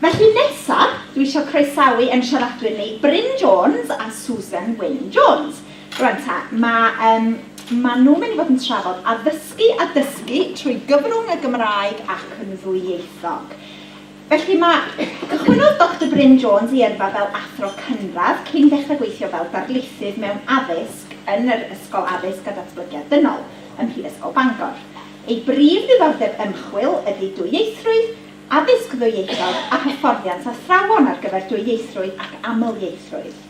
Felly nesaf, dwi isio croesawu ein siaradwyr ni, Bryn Jones a Susan Wyn Jones. Rwan ta, mae, um, ma nhw'n mynd i fod yn trafod addysgu a dysgu trwy gyfrwng y Gymraeg ac yn ddwyieithog. Felly mae... Cychwynnodd Doctor Bryn Jones ei yrfa fel athro cynradd cyn ddechrau gweithio fel darlithydd mewn addysg yn yr Ysgol Addysg a Datblygiad Dynol ym Mhrifysgol Bangor. Ei brif ddiddordeb ymchwil ydy dwyieithrwydd, addysg ddwyieithog a hyfforddiant athrawon ar gyfer dwyieithrwydd ac amlieithrwydd.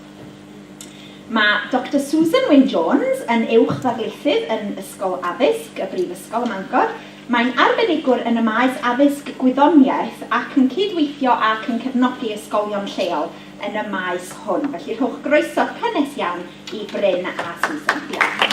Mae Doctor Susan Wyn Jones yn uwch ddarlithydd yn Ysgol Addysg y Brifysgol ym Mangor, Mae'n arbenigwr yn y maes addysg gwyddoniaeth ac yn cyd-weithio ac yn cefnogi ysgolion lleol yn y maes hwn. Felly rhowch groeso cynnes iawn i Bryn a Susan. Diolch.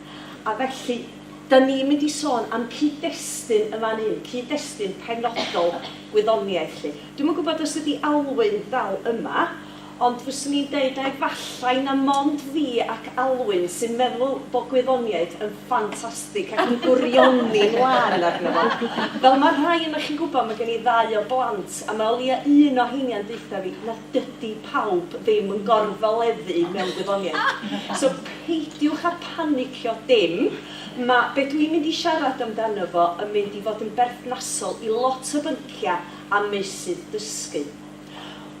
A felly, dan ni'n mynd i sôn am cyd-destun yn fan hyn, cyd-destun penodol gwyddoniaeth 'lly. Dwi'm yn gwybod os ydy Alwyn dal yma, ond fyswn i'n deud na efallai na mond fi ac Alwyn sy'n meddwl bod gwyddoniaeth yn ffantastig ac yn gwrioni 'mlaen arno fo. Fel mae rhai ohonoch chi'n gwybod, mae gen i ddau o blant, a mae o leia un o heinia'n deutha fi, na, Dydy pawb ddim yn gorfeleddu mewn gwyddoniaeth. So peidiwch â panicio dim. Mae be dwi'n mynd i siarad amdano fo yn mynd i fod yn berthnasol i lot o bynciau a meysydd dysgu.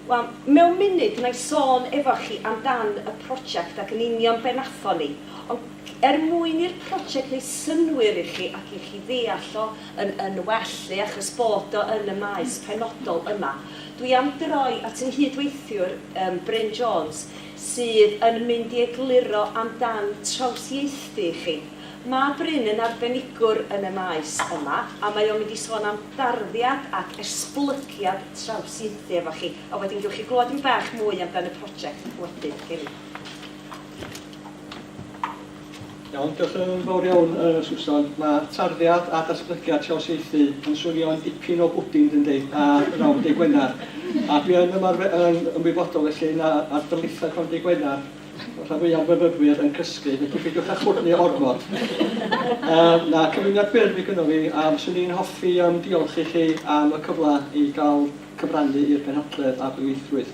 Wel, mewn munud wna i sôn efo chi amdan y prosiect ac yn union be wnaethon ni, ond er mwyn i'r prosiect wneud synnwyr i chi ac i chi ddeall o yn yn well 'lly, achos bod o yn y maes penodol yma, Dwi am droi at yng nghyd-weithiwr yym Bryn Jones sydd yn mynd i egluro am dan trawsieithu i chi. Mae Bryn yn arbenigwr yn y maes yma a mae o'n mynd i sôn am darddiad ac esblygiad trawsieithu efo chi a wedyn gewch chi glywed dipyn bach mwy am dan y project wedyn. Ceri. Iawn, diolch yn fawr iawn uh, Susan. Mae tarddiad a datblygiad trawsieithu yn swnio'n dipyn o bwdin, dyn di, a rawn deu Gwener. A dwi yn ymarfer yn ymwybodol felly na ar dylithau rhan deu Gwener, rhan fwyaf myfyrwyr yn cysgu, felly peidiwch â chwrnu ormod. Um, na, cyfuniad byr fi gyda fi, a fyswn i'n hoffi um, diolch i chi am y cyfle i gael cyfrannu i'r penhadledd a dwyieithrwydd.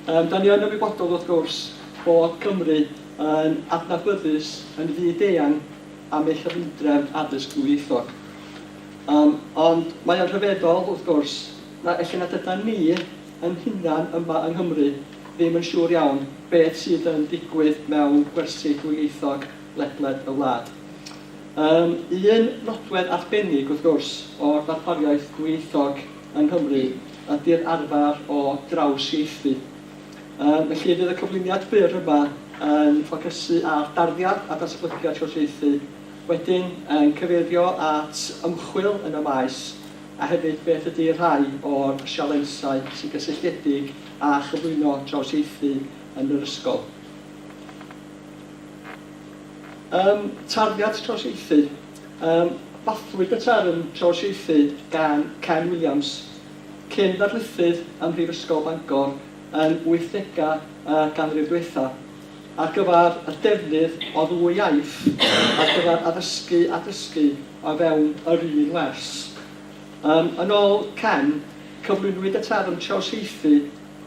Um, da ni yn ymwybodol wrth gwrs bod Cymru yn adnabyddus yn fyd-eang am ei chyfundrefn addysg ddwyieithog. Yym, ond mae o'n rhyfeddol, wrth gwrs, na ella nad ydan ni yn hunan yma yng Nghymru ddim yn siŵr iawn beth sydd yn digwydd mewn gwersi dwyieithog ledled y wlad. Yym, un nodwedd arbennig, wrth gwrs, o'r ddarpariaeth ddwyieithog yng Nghymru ydi'r arfer o drawsieithu. Yym felly fydd y cyflwyniad byr yma yn ffocysu ar darddiad a datblygiad llywodraethu, wedyn yn cyfeirio at ymchwil yn y maes a hefyd beth ydy rhai o'r sialensau sy'n gysylltiedig â chyflwyno trawsieithu yn yr ysgol. Yym tarddiad trawsieithu. Yym bathlwyd y term trawsieithu gan Ken Williams Cyn ddarlithydd ym Mhrifysgol Bangor yn wythdegau y ganrif ddiwethaf, ar gyfer y defnydd o ddwy iaith ar gyfer addysgu a dysgu o fewn yr un wers. Ym yn ol Ken, cyflwynwyd y term trawsieithu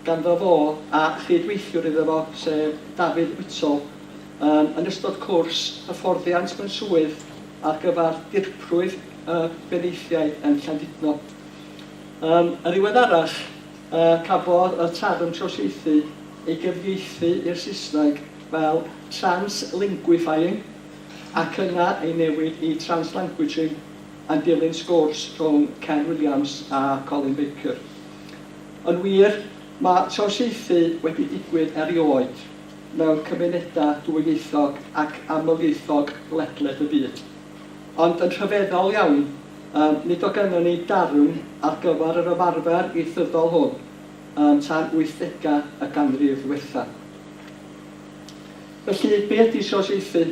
ganddo fo a chyd-weithiwr iddo fo, sef David Whittle, ym yn ystod cwrs hyfforddiant mewn swydd ar gyfer Dirprwy y Benaethiaid yn Llandudno. Yn ddiweddarach, cafodd y term trawsieithu ei gyfieithu i'r Saesneg fel 'translinguifying' ac yna ei newid i 'translanguaging' yn dilyn sgwrs rhwng Ken Williams a Colin Baker. Yn wir, mae trawsieithu wedi digwydd erioed mewn cymunedau dwyieithog ac amlieithog ledled y byd. Ond yn rhyfeddol iawn, yym, nid o gynnon ni darn ar gyfer yr ymarfer ieithyddol hwn yym tan wythdegau y ganrif ddiwethaf. Felly, be ydy trosiaethu?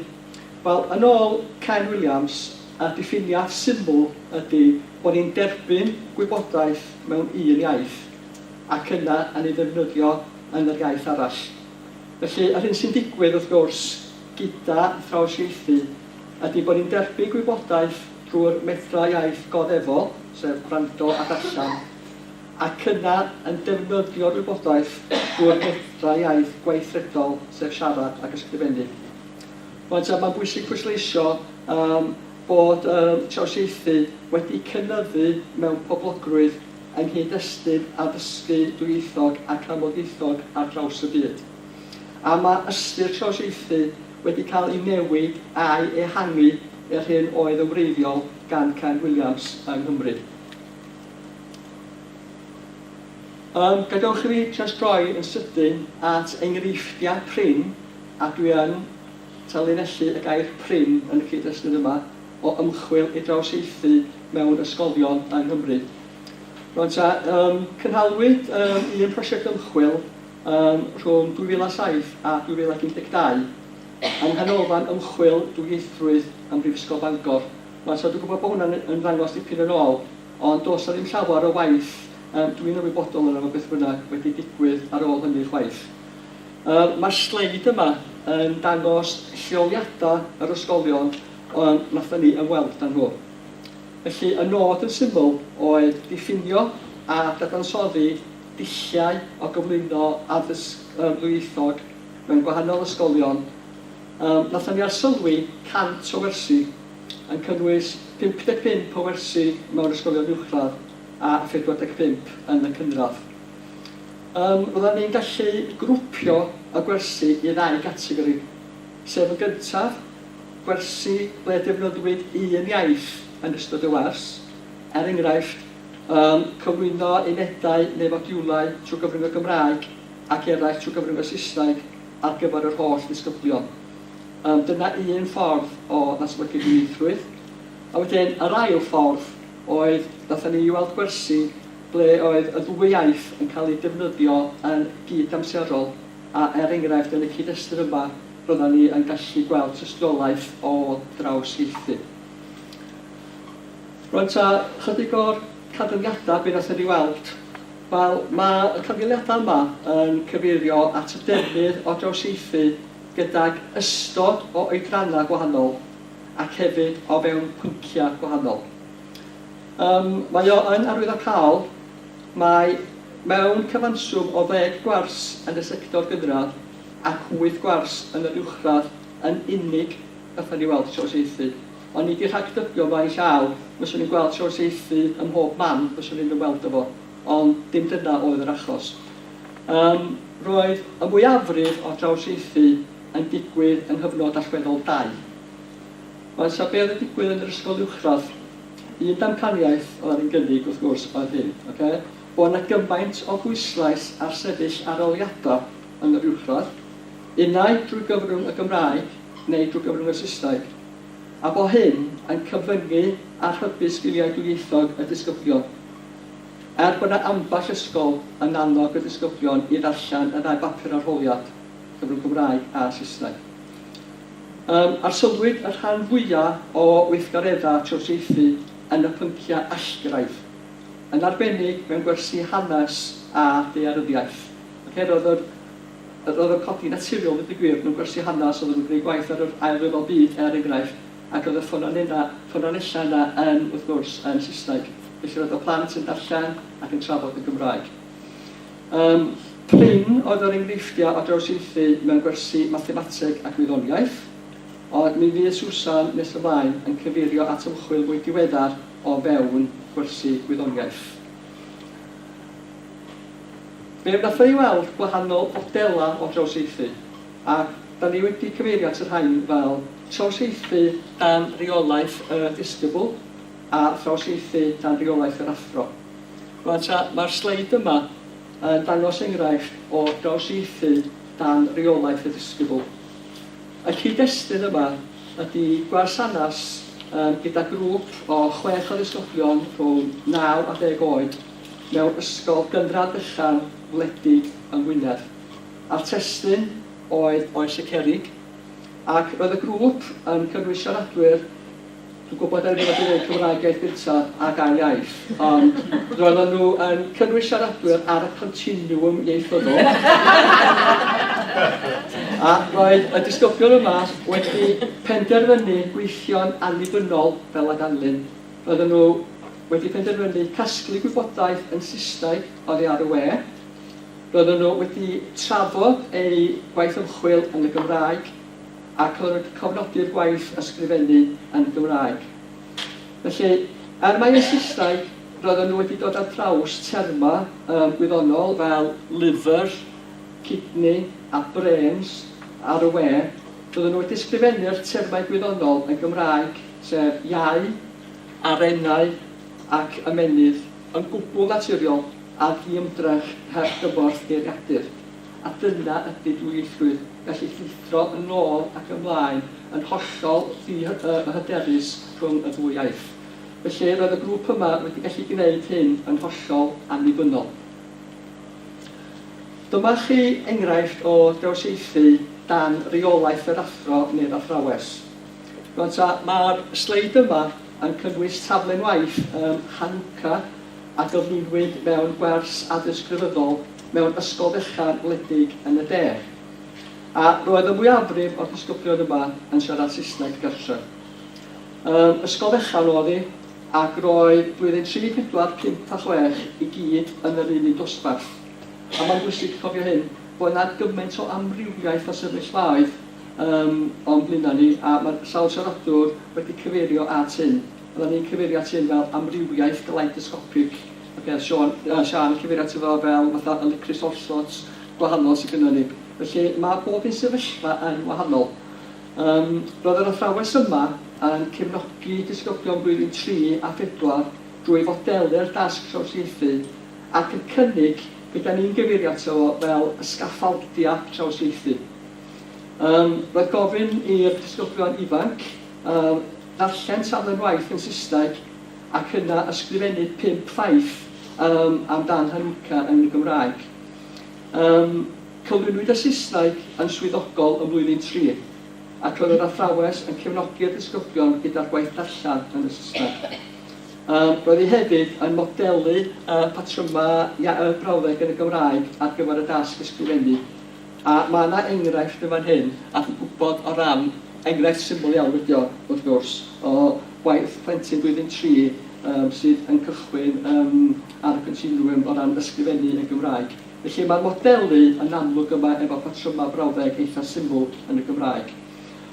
Wel, yn ôl Ken Williams, y diffiniad syml ydy bod ni'n derbyn gwybodaeth mewn un iaith ac yna yn ei ddefnyddio yn yr iaith arall. Felly, yr hyn sy'n digwydd, wrth gwrs, gyda throsiaethu, ydy bod ni'n derbyn gwybodaeth drwy'r medrau iaith god efo, sef gwrando a darllen, ac yna yn defnyddio'r wybodaeth drwy'r medrau iaith gweithredol, sef siarad ac ysgrifennu. Rwan ta, mae'n bwysig pwysleisio um, bod um, trawsieithu wedi cynyddu mewn poblogrwydd yng nghyd-destun addysgu dwyieithog ac amlddieithog ar draws y byd. A mae ystyr trawsieithu wedi cael ei newid a'i ehangu i'r hyn oedd yn wreiddiol gan Ken Williams yng Nghymru. Yym, gadewch i fi jyst droi yn sydyn at enghreifftiau prin, a dwi yn tanlinellu y gair 'prin' yn y cyd-destun yma, o ymchwil i drawsieithu mewn ysgolion yng Nghymru. Rŵan ta, yym, cynhalwyd yym un prosiect ymchwil Ym rhwng 2007 a 2012, yng Nghanolfan Ymchwil Dwyieithrwydd ym Mhrifysgol Bangor. Wan so dwi gwybod bod hwnna'n ymddangos dipyn yn ôl, ond does 'na ddim llawar o waith yym dwi'n ymwybodol ohono fo beth bynnag wedi digwydd ar ôl hynny chwaith. Yym ma'r sleid yma yn dangos lleoliadau yr ysgolion yym nathon ni ymweld â nhw. Felly y nod yn syml oedd diffinio a dadansoddi dulliau o gyflwyno addysg ddwyieithog mewn gwahanol ysgolion, yym, wnaethon ni arsylwi 100 o wersi, yn cynnwys 55 o wersi mewn ysgolion uwchradd a 45 yn y cynradd. Yym, roeddan ni'n gallu grwpio y gwersi i ddau gategori, sef yn gyntaf, gwersi ble defnyddiwyd un iaith yn ystod y wers, er enghraifft, Yym, cyflwyno unedau neu fodiwlau trwy gyfrwng y Gymraeg ac eraill trwy gyfrwng y Saesneg ar gyfer yr holl ddisgyblion. Yym, dyna un ffordd o ddatblygu dwyieithrwydd. A wedyn, yr ail ffordd oedd, wnaethon ni weld gwersi ble oedd y ddwy iaith yn cael eu defnyddio yn gyd-amserol, a er enghraifft, yn y cyd-destun yma, roeddan ni yn gallu gweld tystiolaeth o drawsieithu. Rwan ta chydig o'r canfyddiadau be wnaethon ni weld. Wel, mae y canfyddiadau yma yn cyfeirio at y defnydd o drawsieithu gydag ystod o oedrannau gwahanol ac hefyd o fewn pynciau gwahanol. Ym, mae o yn arwyddocaol, mae mewn cyfanswm o ddeg gwers yn y sector gynradd ac wyth gwers yn yr uwchradd yn unig wnaethon ni weld trawsieithu. Ond nid i rhagdybio fo a'i llaw, fyswn i'n gweld trawsieithu ym mhob man fyswn i'n ymweld â fo, ond dim dyna oedd yr achos. Yym, roedd y mwyafrif o'r drawsieithu yn digwydd yng nghyfnod allweddol dau. Rwan 'sa be' oedd yn digwydd yn yr ysgol uwchradd, un damcaniaeth oedd yn gynnig wrth gwrs oedd hyn, ocê, bo' 'na gymaint o bwyslais ar sefyll aroliada' yn yr uwchradd, unai drwy gyfrwng y Gymraeg neu drwy gyfrwng y Saesneg, a bo hyn yn cyfyngu a rhybu sgiliau dwyieithog y disgyblion. Er bod yna ambell ysgol yn annog y disgyblion i ddarllen y ddau bapur arholiad, cyfrwng Cymraeg a Saesneg. Yym, arsylwyd y rhan fwya o weithgareddau trosiaethu yn y pynciau allgyrraedd, yn arbennig mewn gwersi hanes a daearyddiaeth. Ocê, roedd yr Yr oedd y codi naturiol ddeud y gwir mewn gwersi hanas oedd yn gwneud gwaith ar yr Ail Ryfel Byd er enghraifft ac oedd y ffynonenna, ffynonellau yna yn, wrth gwrs, yn Saesneg. Felly roedd y plant yn darllen ac yn trafod yn Gymraeg. Yym, prin oedd yr enghreifftiau o drawsieithu mewn gwersi mathemateg ac wyddoniaeth. Ond mi fydd Susan nes ymlaen yn cyfeirio at ymchwil mwy diweddar o fewn gwersi gwyddoniaeth. Fe wnaeth e i weld gwahanol fodelau o drawsieithu, a da ni wedi cyfeirio at y rhain fel trawsieithu dan reolaeth y disgybl a thrawsieithu dan reolaeth yr athro. Rwan ta, mae'r sleid yma yn dangos enghraifft o drawsieithu dan reolaeth y disgybl. Y cyd-destun yma ydy gwasanath gyda grŵp o chwech o ddisgyblion rhwng naw a deg oed, mewn ysgol gynradd fechan wledig yng Ngwynedd. A'r testun oedd Oes y Cerrig, ac roedd y grŵp yn cynnwys siaradwyr, dwi'n gwybod bod rhywun wedi dweud Cymraeg iaith gynta ac ail iaith, ond roedden nhw yn cynnwys siaradwyr ar y continiwm ieithyddol. A roedd y disgyblion yma wedi penderfynu gweithio'n annibynnol fel a ganlyn Roedden nhw wedi penderfynu casglu gwybodaeth yn Saesneg oddi ar y we. Roedden nhw wedi trafod eu gwaith ymchwil yn y Gymraeg ac oedden nhw wedi cofnodi'r gwaith ysgrifennu yn y Gymraeg. Felly, er mai yn Saesneg, roedden nhw wedi dod ar draws termau um, gwyddonol fel liver, kidney a brains ar y we, roedden nhw wedi ysgrifennu'r termau gwyddonol yn Gymraeg. sef iau, arennau ac ymennydd, yn gwbl naturiol a ddiymdrech heb gymorth geiriadur, a dyna ydy dwyieithrwydd, gallu llithro yn ôl ac ymlaen yn hollol ddi-hyderus rhwng y ddwy iaith. Felly, roedd y grŵp yma wedi gallu gwneud hyn yn hollol annibynnol. Dyma chi enghraifft o drawsieithu dan reolaeth yr athro neu'r athrawes. Rŵan ta, mae'r sleid yma yn cynnwys taflen waith ym Hanukkah a gyflwynwyd mewn gwers addysg grefyddol mewn ysgol fechan wledig yn y de. A roedd y mwyafrif o'r disgyblion yma yn siarad Saesneg gartref. Ym ysgol fechan oedd hi, ac roedd blwyddyn tri, pedwar, pump a chwech i gyd yn yr un un dosbarth. A mae'n bwysig cofio hyn, bod 'na gymaint o amrywiaeth o sefyllfaoedd, Yym, ond mi wna ni, a mae'r sawl siaradwr wedi cyfeirio at hyn, fyddan ni'n cyfeirio at hyn fel amrywiaeth galeidoscopic, ocê, Siân, yy Siân yn cyfeirio ato fo fel fatha y licris all sorts gwahanol sy gynnon ni. Felly, mae bob un sefyllfa yn wahanol. Yym, roedd yr athrawes yma yn cefnogi disgyblion blwyddyn tri a phedwar drwy fodelu'r dasg trawsieithu ac y cynnig be dan ni'n gyfeirio ato fo fel y sgaffaldiau trawsieithu. Yym, roedd gofyn i'r disgyblion ifanc yym ddarllen taflen waith yn Saesneg ac yna ysgrifennu pump ffaith yym am dan Hanukkah yn y Gymraeg. Yym, cyflwynwyd y Saesneg yn swyddogol yn Flwyddyn Tri, ac roedd yr athrawes yn cefnogi'r disgyblion gyda'r gwaith darllen yn y Saesneg. Yym, roedd hi hefyd yn modelu yy patrymau iau y brawddeg yn y Gymraeg ar gyfer y dasg ysgrifennu. A mae yna enghraifft yn fan hyn, a dwi'n gwybod o ran, enghraifft syml iawn ydy o wrth gwrs, o waith plentyn blwyddyn tri yym sydd yn cychwyn yym ar y continwwm o ran ysgrifennu yn Gymraeg. Felly mae'r modelu yn amlwg yma efo patrymau brawddeg eitha' syml yn y Gymraeg.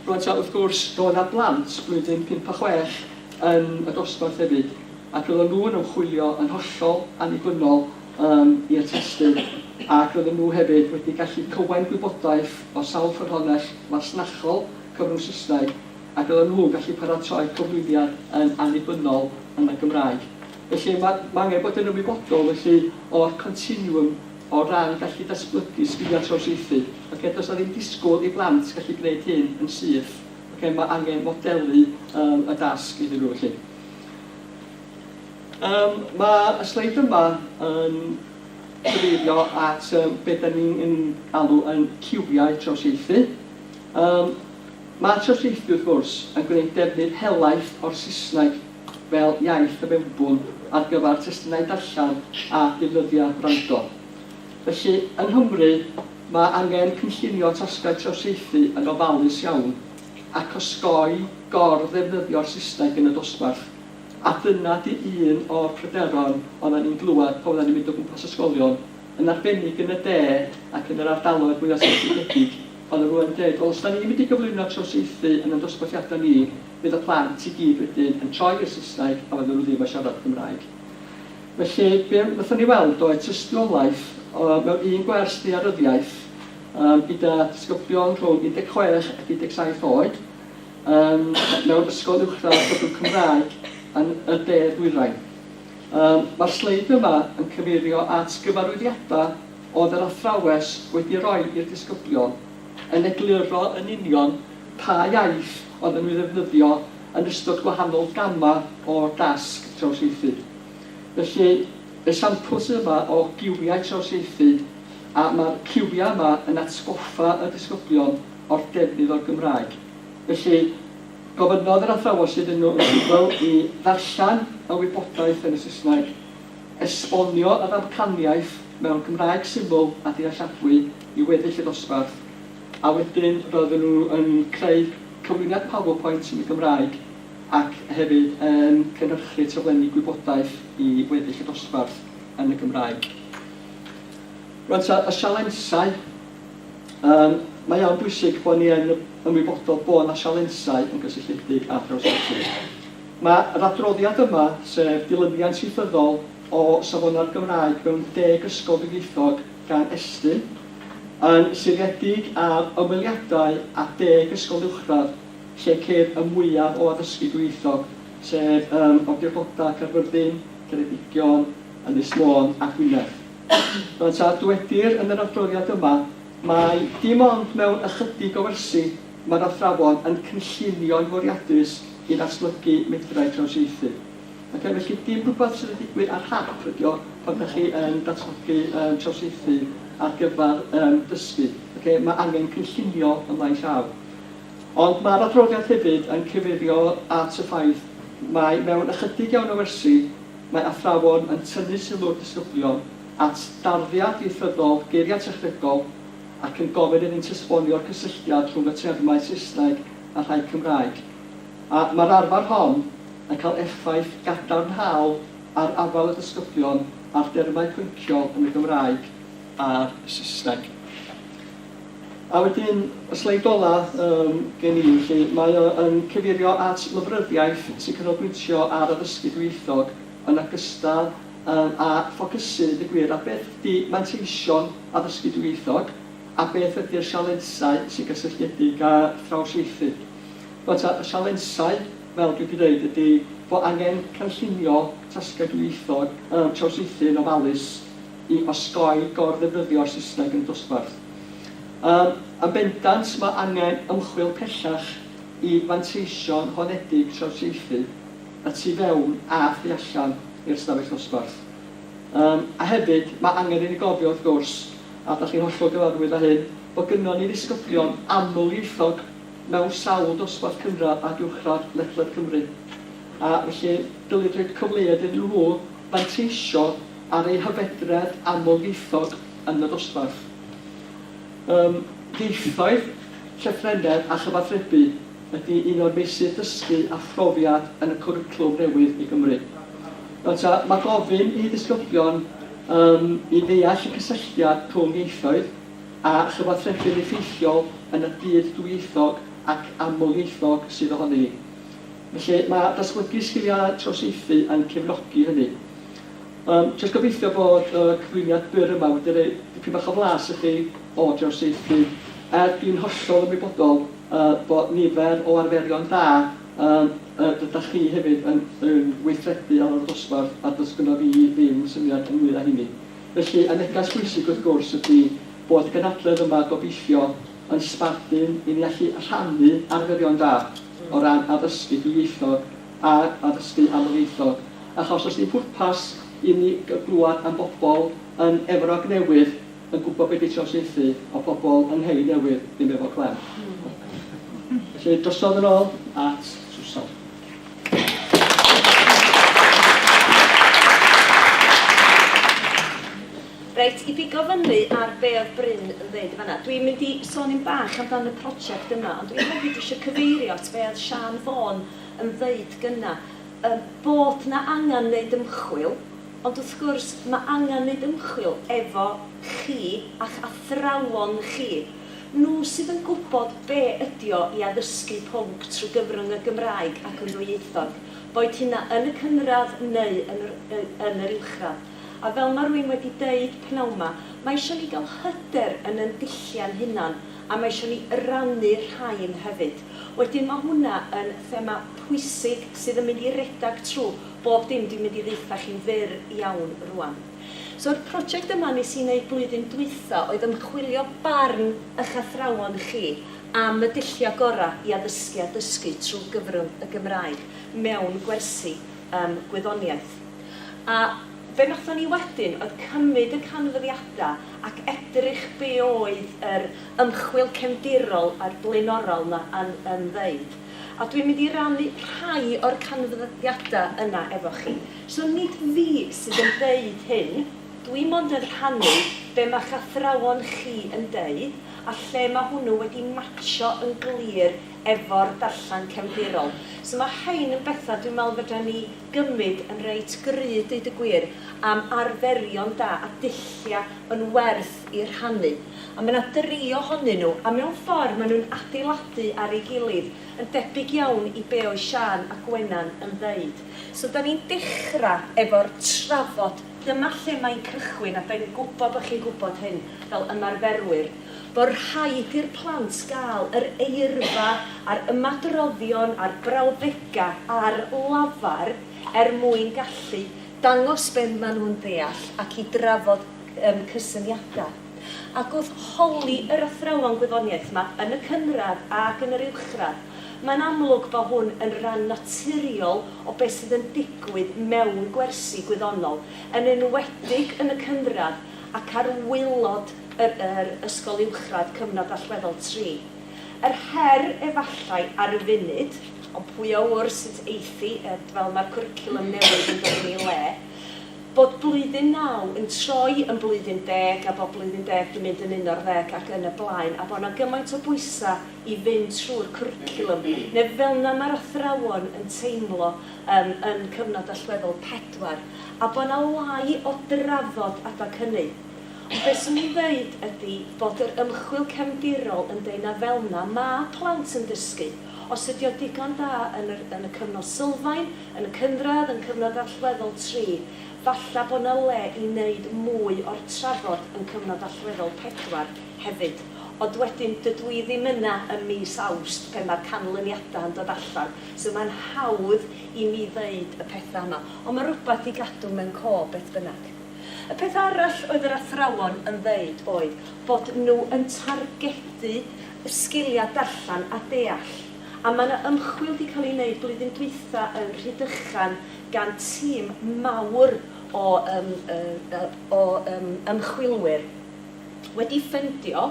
Rŵan ta wrth gwrs roedd yna blant blwyddyn pump a chwech yn y dosbarth hefyd ac roedden nhw'n ymchwilio yn hollol annibynnol yn i'r testun ac roedden nhw hefyd wedi gallu cywain gwybodaeth o sawl ffynhonnell fasnachol cyfrwng Saesneg ac roedden nhw'n gallu paratoi'r cyflwyniad yn annibynnol yn y Gymraeg. Felly mae mae angen bod yn ymwybodol felly o'r continwwm o ran gallu datblygu sgiliau trawsieithu. Ocê, does 'na ddim disgwyl i blant gallu gwneud hyn yn syth, ocê, mae angen modelu yym y dasg iddyn nhw felly. Yym, mae y sleid yma yn cyfeirio at yym be dan ni'n yn alw yn ciwiau trawsieithu. Yym, mae trawsieithu wrth gwrs yn gwneud defnydd helaeth o'r Saesneg fel iaith y mewnbwn ar gyfer testunau darllen a defnyddiau gwrando. Felly, yng Nghymru, mae angen cynllunio tasgau trawsieithu yn ofalus iawn ac osgoi gor-ddefnyddio'r Saesneg yn y dosbarth. A dyna 'di un o'r pryderon oeddan ni'n glywed pan oeddan ni'n mynd o gwmpas ysgolion, yn arbennig yn y de ac yn yr ardaloedd mwya' seiliedig, oeddan nhw yn deud, 'Wel, os 'dan ni'n mynd i gyflwyno trawsieithu yn ein dosbarthiadau ni, fydd y plant i gyd wedyn yn troi i'r Saesneg a fyddan nhw ddim yn siarad Cymraeg'. Felly, be wnaethon ni weld oedd tystiolaeth mewn un gwers ddaearyddiaeth gyda disgyblion rhwng 16 ac 17 oed, Ym mewn ysgol uwchradd byddwn Cymraeg yn y de ddwyrain. Ym mae'r sleid yma yn cyfeirio at gyfarwyddiadau oedd yr athrawes wedi roi i'r disgyblion yn egluro yn union pa iaith oedden nhw i ddefnyddio yn ystod gwahanol gamau o dasg trawsieithu. Felly esiampl sydd yma o giwiau trawsieithu a mae'r ciwiau yma yn atgoffa y disgyblion o'r defnydd o'r Gymraeg. Felly, gofynnodd yr athrawos iddyn nhw yn sugl i ddarllen y wybodaeth yn y Saesneg, esbonio yr amcaniaeth mewn Cymraeg syml a dealladwy i weddill y dosbarth, a wedyn roedden nhw yn creu cyflwyniad PowerPoint yn y Gymraeg ac hefyd yn cynhyrchu taflenni gwybodaeth i weddill y dosbarth yn y Gymraeg. Rŵan ta, y sialensau. Yym, mae o'n bwysig bod ni yn ymwybodol bod 'na sialensau yn gysylltiedig â thrawsnewid. Mae yr adroddiad yma, sef dilyniant ieithyddol o Safonau'r Gymraeg mewn Deg Ysgol Dwyieithog gan Estyn, yn seiliedig ar ymweliadau â deg ysgol uwchradd lle ceir y mwyaf o addysgu dwyieithog, sef ym Awdurdodau Caerfyrddin, Ceredigion, Ynys Môn a Gwynedd. Fel y dyweddir yn yr adroddiad yma, mai dim ond mewn ychydig o wersi mae'r athrawon yn cynllunio'n fwriadus i ddatblygu medrau trawsieithu. Ac a felly dim rhywbeth sydd yn digwydd ar hap ydy o pan ydych chi yn datblygu um, trawsieithu ar gyfer um, dysgu. Okay? Mae angen cynllunio y maes llaw. Ond mae'r adroddiad hefyd yn cyfeirio at y ffaith mae mewn ychydig iawn o wersi mae athrawon yn tynnu sylw'r disgyblion at darddiad ieithyddol geiriau technegol ac yn gofyn iddynt esbonio'r cysylltiad rhwng y termau Saesneg a'r rhai Cymraeg, a mae'r arfer hon yn cael effaith gadarnhaol ar afael y disgyblion ar dermau pynciol yn y Gymraeg a'r Saesneg. A wedyn y sleid ola yym gen i felly, mae o yn cyfeirio at lyfryddiaeth sy'n canolbwyntio ar addysgu dwyieithog yn ogystal yym â ffocysu deud y gwir ar beth ydi manteision addysgu dwyieithog a beth ydi'r sialensau sy'n gysylltiedig â thrawsieithu. Rwan ta, y sialensau, fel dwi 'di deud, ydi fo' angen cynllunio tasgau dwyieithog yym trawsieithu yn ofalus i osgoi gor-ddefnyddio'r Saesneg yn y dosbarth. Yym, yn bendant, mae angen ymchwil pellach i fanteision honedig trawsieithu y tu fewn a thu allan i'r ystafell ddosbarth. Yym, a hefyd, mae angen i ni gofio, wrth gwrs, a dach chi'n hollol gyfarwydd â hyn, bod gynnon ni ddisgyblion amlieithog mewn sawl dosbarth cynradd ac uwchradd ledled Cymru, a felly dylid rhoi cyfleoedd iddyn nhw fanteisio ar eu hyfedredd amlieithog yn y ddosbarth. Ym mhieithoedd, llythrennedd a chyfathrebu ydy un o'r meysydd dysgu a phrofiad yn y cwricwlwm newydd i Gymru. Nawr ta, mae gofyn i ddisgyblion um, i ddeall y cysylltiad rhwng ieithoedd a chyfathrebu'n effeithiol yn y byd dwyieithog ac amlieithog sydd ohoni hi. Felly, mae datblygu sgiliau trawsieithu yn cefnogi hynny. Yym, jyst gobeithio bod y cyflwyniad byr yma wedi rhoi dipyn bach o flas i chi o drawsieithu, er dwi'n hollol ymwybodol yy bod nifer o arferion da yym yy rydach chi hefyd yn yn gweithredu ar ôl y dosbarth a does gynno fi ddim syniad ynglŷn â hynny. Felly, y neges bwysig wrth gwrs ydi bod y gynhadledd yma gobeithio yn sbardun i ni allu rhannu arferion da o ran addysgu dwyieithog, ar addysgu amlieithog, achos does dim pwrpas i ni glywed am bobl yn Efrog Newydd yn gwybod beth ydy trawsieithu a phobl yng Nghei Newydd ddim efo clem. Felly, drosodd yn ôl at Susan. Reit, i bigo fyny ar be oedd Bryn yn ddeud yn fan'na, dwi'n mynd i sôn yn bach amdan y prosiect yma, ond dwi hefyd eisiau cyfeirio at be oedd Siân Fôn, yn ddeud gynna' yym bod 'na angan neud ymchwil, ond wrth gwrs ma' angan neud ymchwil efo chi a'ch athrawon chi. Nhw sydd yn gwbod be' ydi o i addysgu pwnc trwy gyfrwng y Gymraeg ac yn ddwyieithog, boed hynna yn y cynradd neu yn yr y yn yr uwchradd. A fel ma' rywun wedi deud p'nawn 'ma, ma' isio ni ga'l hyder yn 'yn dulliau'n hunan, a mae isio ni rannu'r rhain hefyd. Wedyn mae hwnna yn thema pwysig sydd yn mynd i redag trwy bob dim dwi'n mynd i ddaetha chi'n fyr iawn rwan. So yr project yma nes i neud blwyddyn dwytha oedd ymchwilio barn ych athrawon chi am y dullia gora i addysgu a dysgu trwy gyfrwng y Gymraeg mewn gwersi yym gwyddoniaeth. A Be wnaethon ni wedyn oedd cymryd y canfyddiadau ac edrych be oedd yr ymchwil cefndirol a'r blaenorol 'na yn yn ddeud. A dwi'n mynd i rannu rhai o'r canfyddiadau yna efo chi. So nid fi sydd yn deud hyn, dwi mond yn rhannu be mae'ch athrawon chi yn deud a lle mae hwnnw wedi matsio yn glir efo'r darllen cefndirol. So mae rhein yn bethau dwi'n meddwl fedra ni gymyd yn reit gry deud y gwir am arferion da a dullia yn werth i rhannu a mae 'na dri ohonyn nhw a mewn ffordd mae nhw'n adeiladu ar ei gilydd yn debyg iawn i be oedd Siân a Gwenan yn ddeud so 'da ni'n dechra' efo'r trafod dyma lle mae'n cychwyn a 'da ni'n gwybod bod chi'n gwybod hyn fel ymarferwyr bod rhaid i'r plant gael yr eirfa a'r ymadroddion a'r brawddegau ar lafar er mwyn gallu dangos be maen nhw'n ddeall ac i drafod yym cysyniadau. Ac wrth holi yr athrawon gwyddoniaeth 'ma yn y cynradd ac yn yr uwchradd, mae'n amlwg bod hwn yn ran naturiol o be sydd yn digwydd mewn gwersi gwyddonol, yn enwedig yn y cynradd ac ar waelod yr yr ysgol uwchradd cyfnod allweddol tri. Yr her efallai ar y funud, ond pwy a ŵyr sut eithi ed fel mae'r cwricwlwm newydd yn dod yn ei le, bod blwyddyn naw yn troi yn blwyddyn deg a bod blwyddyn deg di mynd yn uno'r ddeg ac yn y blaen a bod yna gymaint o bwysa i fynd trwy'r cwricwlwm neu felna mae'r athrawon yn teimlo yym yn cyfnod allweddol pedwar a bod yna lai o drafod adag hynny. Ond be 'swn i'n ddeud ydi bod yr ymchwil cefndirol yn deud na fel 'na ma' plant yn dysgu. Os ydi o digon da yn yr yn y cyfnod sylfaen, yn y cynradd, yn cyfnod allweddol tri, falla bo 'na le i neud mwy o'r trafod yn cyfnod allweddol pedwar hefyd. Ond wedyn dydw i ddim yna ym mis Awst pe ma'r canlyniada yn dod allan, so ma'n hawdd i mi ddeud y petha yma. Ond ma' rwbath i gadw mewn co beth bynnag. Y peth arall oedd yr athrawon yn ddeud oedd bod nhw yn targedu y sgiliau darllen a deall, a mae yna ymchwil 'di cael ei wneud blwyddyn dwytha yn Rhydychen gan tîm mawr o yym yy o yym ymchwilwyr wedi ffendio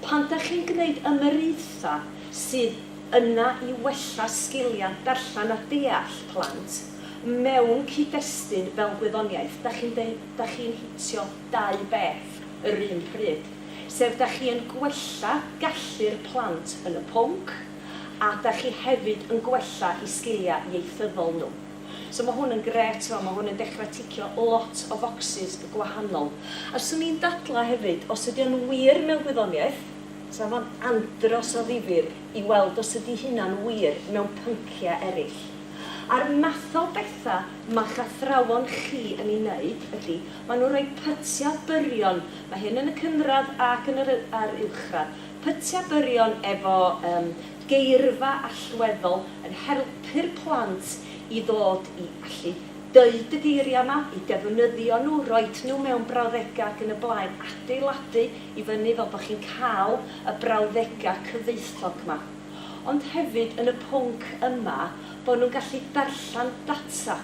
pan 'da chi'n gwneud ymyriaethau sydd yna i wella sgiliau darllen a deall plant mewn cyd-destun fel gwyddoniaeth, da chi'n deud da chi'n hitio dau beth yr un pryd, sef da chi yn gwella gallu'r plant yn y pwnc a da chi hefyd yn gwella'u sgiliau ieithyddol nhw. So mae hwn yn grêt, chimod, mae hwn yn dechrau ticio lot o focsys gwahanol. A 'swn i'n dadlau hefyd, os ydy o'n wir mewn gwyddoniaeth, Sa fo'n andros o ddifyr i weld os ydi hynna'n wir mewn pyncia erill. A'r math o betha ma'ch athrawon chi yn i neud ydi, ma nhw'n rhoi pytia byrion, ma hyn yn y cynradd ac yn yr a'r uwchradd, pytia byrion efo yym geirfa allweddol yn helpu'r plant i ddod i allu deud y geiria ma, i defnyddio nhw, roid nhw mewn brawddega ac yn y blaen, adeiladu i fyny fel bod chi'n cael y brawddegau cyfoethog 'ma, ond hefyd yn y pwnc yma bod nhw'n gallu darllen data,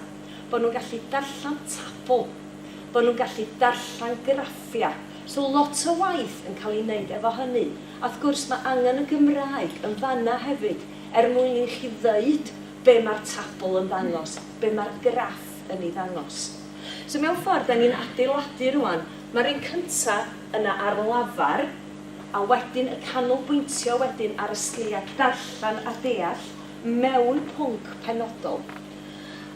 bod nhw'n gallu darllen tabl, bod nhw'n gallu darllen graffiau. So lot o waith yn cael ei wneud efo hynny. A wrth gwrs mae angen y Gymraeg yn fan'na hefyd er mwyn i chi ddeud be mae'r tabl yn ddangos, be mae'r graff yn ei ddangos. So mewn ffordd dan ni'n adeiladu rŵan Mae'r un cynta yna ar lafar, a wedyn y canolbwyntio wedyn ar y sgiliau darllen a deall mewn pwnc penodol.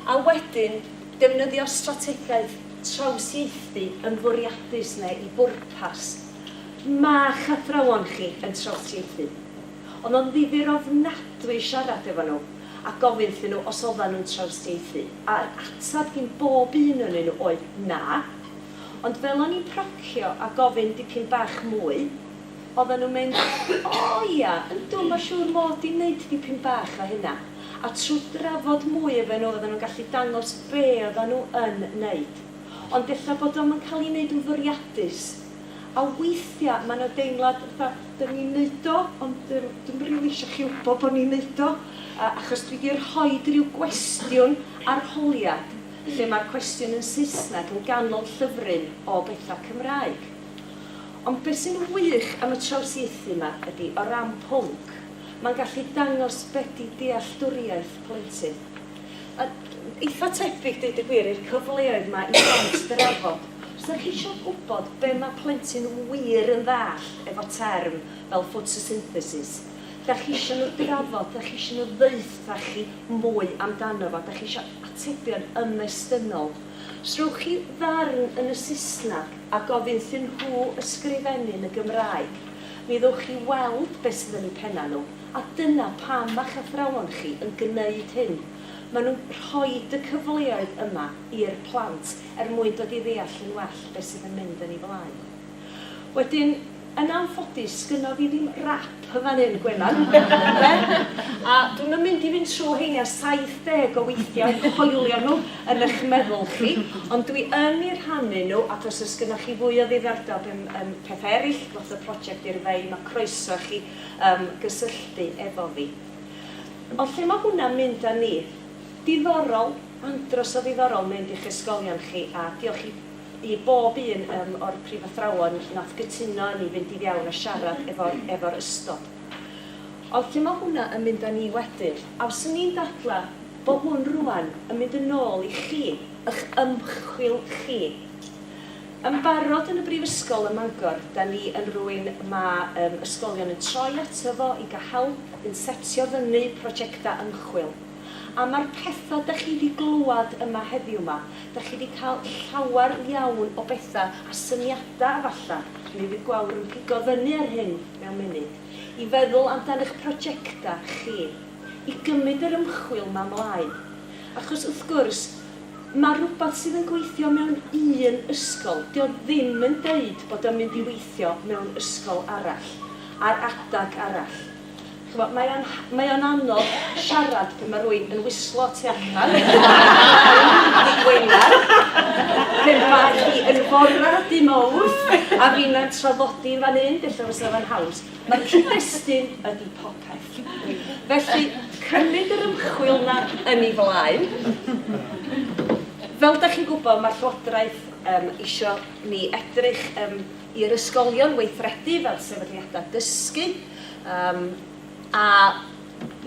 A wedyn, defnyddio'r strategaeth trawsieithu yn fwriadus neu i bwrpas. Ma'ch athrawon chi yn trawsieithu. Oedd o'n ddifyr ofnadwy siarad efo nhw a gofyn wrthyn nhw os oeddan nhw'n trawsieithu, a'r ateb gin bob un o'nyn nhw oedd 'na'. ond fel o'n i'n procio a gofyn dipyn bach mwy, oddan nhw'n mynd, O ia, yndw, ma' siŵr mod i'n neud dipyn bach o hynna. A trw drafod mwy efo nhw oddan nhw'n gallu dangos be oddan nhw yn neud. Ond ella bod o'm yn cael ei neud yn fwriadus. A weithia ma' na deimlad fatha, dyn ni'n neud o, ond yym dwi'm rili isio chi wbo bo ni'n neud o, achos dwi di rhoid ryw gwestiwn arholiad. lle mae'r cwestiwn yn Saesneg yn ganol llyfryn o bethau Cymraeg. Ond beth sy'n wych am y trawsieithu 'ma ydi, o ran pwnc, mae'n gallu dangos be 'di dealltwriaeth plentyn. A eitha' tebyg, deud y gwir, i'r cyfleoedd 'ma i blant drafod. Os dach chi isio gwybod be mae plentyn wir yn ddallt efo term fel ffotosynthesis, Dach chi isio nhw drafod, dach chi isio nhw ddaetha chi mwy amdano fo, dach chi isio atebion ymestynol. Os rhowch chi ddarn yn y Saesneg a gofyn thyn nhw ysgrifennu yn y Gymraeg, mi ddowch chi weld beth sydd yn eu pennau nhw, a dyna pam ma'ch athrawon chi yn gneud hyn. Maen nhw'n rhoid y cyfleoedd yma i'r plant er mwyn dod i ddeall yn well beth sydd yn mynd yn ei flaen. Wedyn, yn anffodus, sgynno fi ddim rap yn fan hyn, Gwenan, ynde? A dwi'm yn mynd i fynd trwy rheina 70 o weithiau a'u coelio nhw yn eich meddwl chi, ond dwi yn eu rhannu nhw, ac os oes gynnoch chi fwy o ddiddordeb yn yn pethau eraill, fatha project i'r fei, mae croeso i chi yym gysylltu efo fi. Ond lle mae hwnna'n mynd â ni? Diddorol, andros o ddiddorol mynd i'ch ysgolion chi, a diolch i i bob un um, o'r prifathrawon nath gytuno â ni fynd i fiewn a siarad efo'r efo'r ystod. Ond lle ma' hwnna yn mynd â ni wedyn? A fyswn ni'n dadla bo' hwn rŵan yn mynd yn ôl i chi, y'ch ymchwil chi. Yn barod yn y Brifysgol ym Mangor, 'da ni yn rwyn ma' um, ysgolion yn troi ato fo i ga' help yn setio fyny projecta ymchwil. A ma'r petha dych chi 'di glwad yma heddiw 'ma, dych chi 'di cael llawer iawn o betha a syniada efalla, mi fydd Gwawr yn pigo fyny ar hyn mewn munud, i feddwl amdan eich projecta chi, i gymyd yr ymchwil 'ma mlaen. Achos wrth gwrs, ma' rwbath sydd yn gweithio mewn un ysgol, 'di o ddim yn deud bod o'n mynd i weithio mewn ysgol arall, ar adag arall. Ch'mo', mae o'n ha- mae o'n anodd siarad pan ma' rywun yn wislo tu allan mewn i gwengar, pe bai hi yn fora dy' Mowrth a finna'n traddodi yn fan 'yn, ella fysa fo'n haws. Ma'r cyd-destun ydi popeth. Felly, cymryd yr ymchwil 'na yn ei flaen. Fel 'dach chi'n gwybod, ma'r Llywodraeth yym isio ni edrych yym i'r ysgolion weithredu fel sefydliadau dysgu, Um, a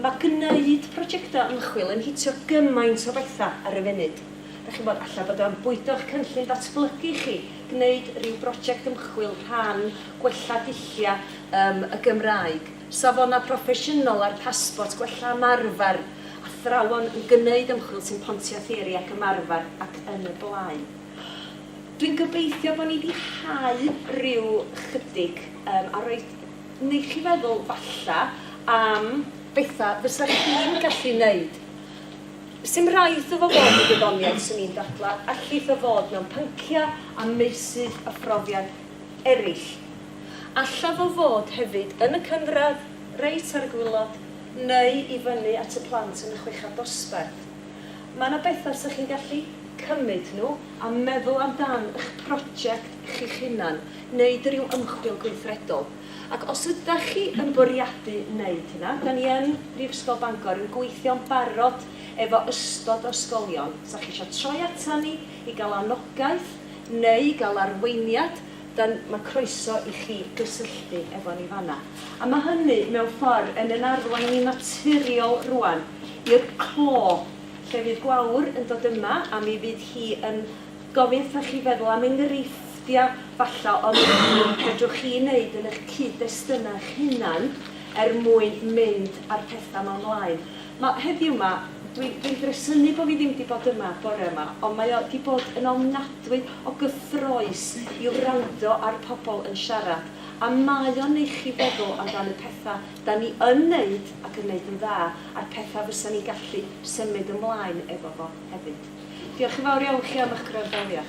mae gwneud prosiectau ymchwil yn hitio gymaint o bethau ar y funud. Da chi'n bod, allai bod o'n bwydo'ch cynllun datblygu chi, gwneud rhyw brosiect ymchwil rhan gwella dulliau um, y Gymraeg, safonau proffesiynol a'r pasbort, gwella ymarfer, athrawon yn gwneud ymchwil sy'n pontio theori ac ymarfer ac yn y blaen. Dwi'n gobeithio bod ni 'di hau ryw 'chydig yym a roi neu' chi feddwl, falla, am betha' fysa chi'n gallu neud. Sim raid 'ddo fo fod yn gwyddoniaeth, swn i'n dadla', allith o fod mewn pyncia' a meysydd a phrofiad erill. Alla fo fod hefyd yn y cynradd, reit ar y gwilod, neu i fyny at y plant yn y chweched dosbarth. Mae yna bethau 'sech chi'n gallu cymryd nhw a meddwl amdan y'ch prosiect chi'ch hunan, neud ryw ymchwil gweithredol. Ac os ydach chi yn bwriadu neud hynna, 'da ni yn Brifysgol Bangor yn gweithio'n barod efo ystod o ysgolion, 'sach chi isio troi atan ni i gael anogaeth neu i gael arweiniad, dan, mae croeso i chi gysylltu efo ni fan'na. A mae hynny, mewn ffordd, yn yn arwain ni'n naturiol rŵan i'r clo, lle fydd Gwawr yn dod yma a mi fydd hi yn gofyn wrthoch chi feddwl am enghreifftiau, falla, o beth fedrwch chi wneud yn eich cyd-destunau eich hunan er mwyn mynd â'r pethau 'ma mlaen. Ma, heddiw 'ma, dwi, dwi'n gresynu bo' fi ddim 'di bod yma bore yma, ond mae o 'di bod yn ofnadwy o gyffrous i wrando ar pobl yn siarad, a mae o'n neu' chi feddwl amdan y petha' 'dan ni yn neud ac yn neud yn dda, a'r petha' fysan ni'n gallu symud ymlaen efo fo hefyd. Diolch yn fawr iawn chi am 'ych gwrandawiad.